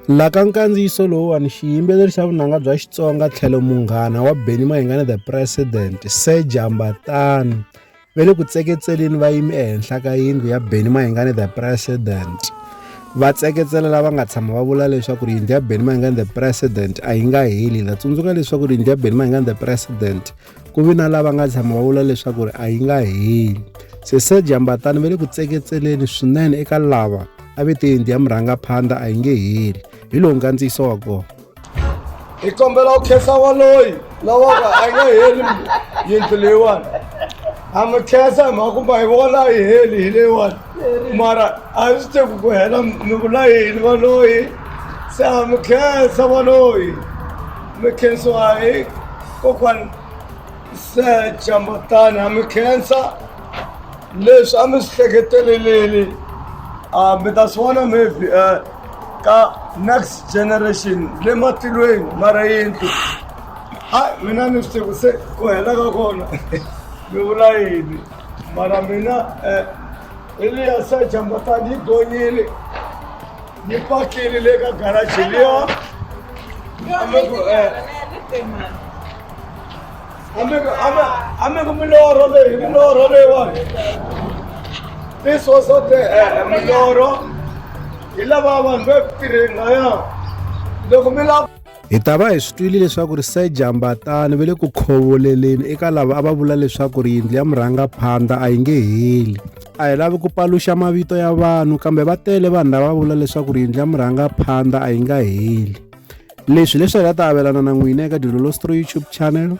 La ka nkandziyiso lowuwani xiyimbeleri xa vunanga bya Xitsonga tlhelo munghana wa Benny Mayengani the President Sir Jambatani ve le ku tseketseleni va yimi ehenhla ka yindlu ya Benny Mayengani the President va tseketsela lava nga tshama va vula leswaku ri yindlu ya Benny Mayengani the President a yi nga heli la tsundzuka leswaku ri yindlu ya Benny Mayengani the President ku vi na lava nga tshama va vula leswaku ri a yi nga heli sese jambatani va le ku tseketseleni swinene eka lava a ve te yindlu ya murhangaphandla a yi nge heli hi lowu nkandziyiso wa kona hi kombela u khensa waloyi lawaka a yi nga heli yindlu leyiwani a mi khensa hi mhaka kumba hi vona a yi heli hi leyiwani mara a yi swi teku ku hela mi vula yini valoyi se a mi khensa valoyi mi khensiwa hi kokwana secha mbatani ha mi khensa leswi a mi swi hleketeleleli a ah, mi ta swi vona maybe eh, ka next generation le matilweni mara yindlu a mina ni swi tivi se ku hela ka kona mi vula yini mara mina eh, eliya secha mbatani yi gonyile ni pakile le ka garaji liyo ameko miloro leyi miloro leyiwani this was not the uh, miloro hi lava vanhu va ku tirheni laya loko mi lava Hi ta va hi swi twile leswaku ri Sir Jambatani ve le ku khovoleleni eka lava a va vula leswaku ri yindlu ya murhangaphandla a yi nge heli. A hi lavi ku paluxa mavito ya vanhu kambe va tele vanhu lava va vula leswaku ri yindlu ya murhangaphandla a yi nga heli. Leswi leswi hi nga ta avelana na n'wina eka Dilolo Story YouTube channel.